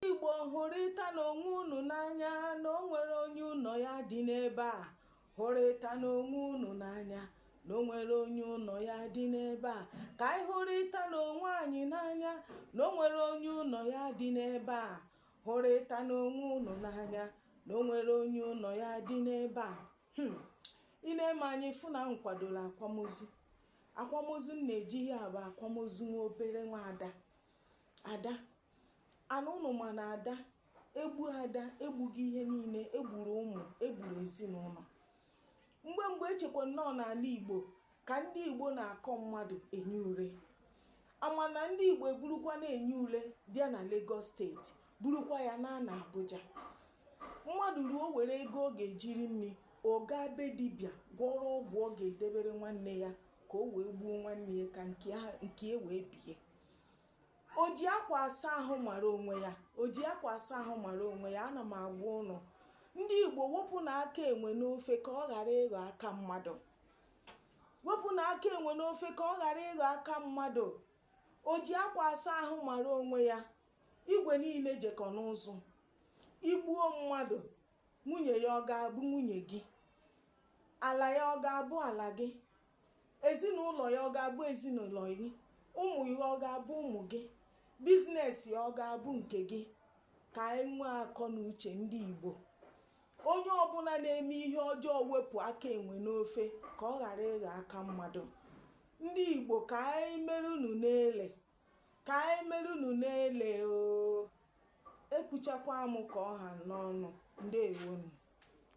Igbo hụrịtanụ onwe unu n'anya na o nwerọ onye ụnọ ya dị n'ebe a hụrịtanụ onwe unu n'anya na o nwerọ onye ụnọ ya dị n'ebe a ka anyị hụrịtanụ onwe anyị n'anya na o nwerọ onye ụnọ ya dị n'ebe a hụrịtanụ onwe unu n'anya na o nwerọ onye ụnọ ya dị n'ebe a hmm. i nee m anya ị fụ na m kwadoro akwamozu akwamozu m na-eje ihe a bụ akwamozu nwa obere nwa ada ada Ana ụnụ ma na ada e gbuo ada egbugo ihe niile egburu ụmụ egburu ezinụlọ mgbe mgbe e chekwanụ na ọọ n'ala igbo ka ndị igbo na-akọ mmadụ enyi ure ama na ndị igbo eburukwana enyi ule bịa na Lagos steeti burukwa ya naa na Abuja mmadụ ruo were ego ọ ga-eji rie nri ọ gaa be dibịa gwọrọ ọgwụ ọ ga-edebere nwanne ya ka o wee gbuo nwanne ya ka nke e wee bie o ji akwa asa ahụ mara onwe ya o ji akwa asa ahụ mara onwe ya ana m agwa ụnụ ndị igbo wepụnụ aka enwe n'ofe ka ọ ghara ịghọ aka mmadụ wepụnụ aka enwe n'ofe ka ọ ghara ịghọ aka mmadụ o ji akwa asa ahụ mara onwe ya igwe niile jekọ n'ụzụ i gbuo mmadụ nwunye ya ọ ga-abụ nwunye gị ala ya ọ ga-abụ ala gị ezinụlọ ya ọ ga-abụ ezinụlọ gị ụmụ ya ọ ga-abụ ụmụ gị biznes ya ọ ga-abụ nke gị ka anyị nwee akọ na uche ndị Igbo onye ọbụla na-eme ihe ọjọọ wepụ aka enwe n'ofe ka ọ ghara ịghọ aka mmadụ ndị Igbo ka anyị merenụ na-ele ka anyị merenụ na-ele o ekwuchakwa m ka ọ ha m n'ọnụ ndewonu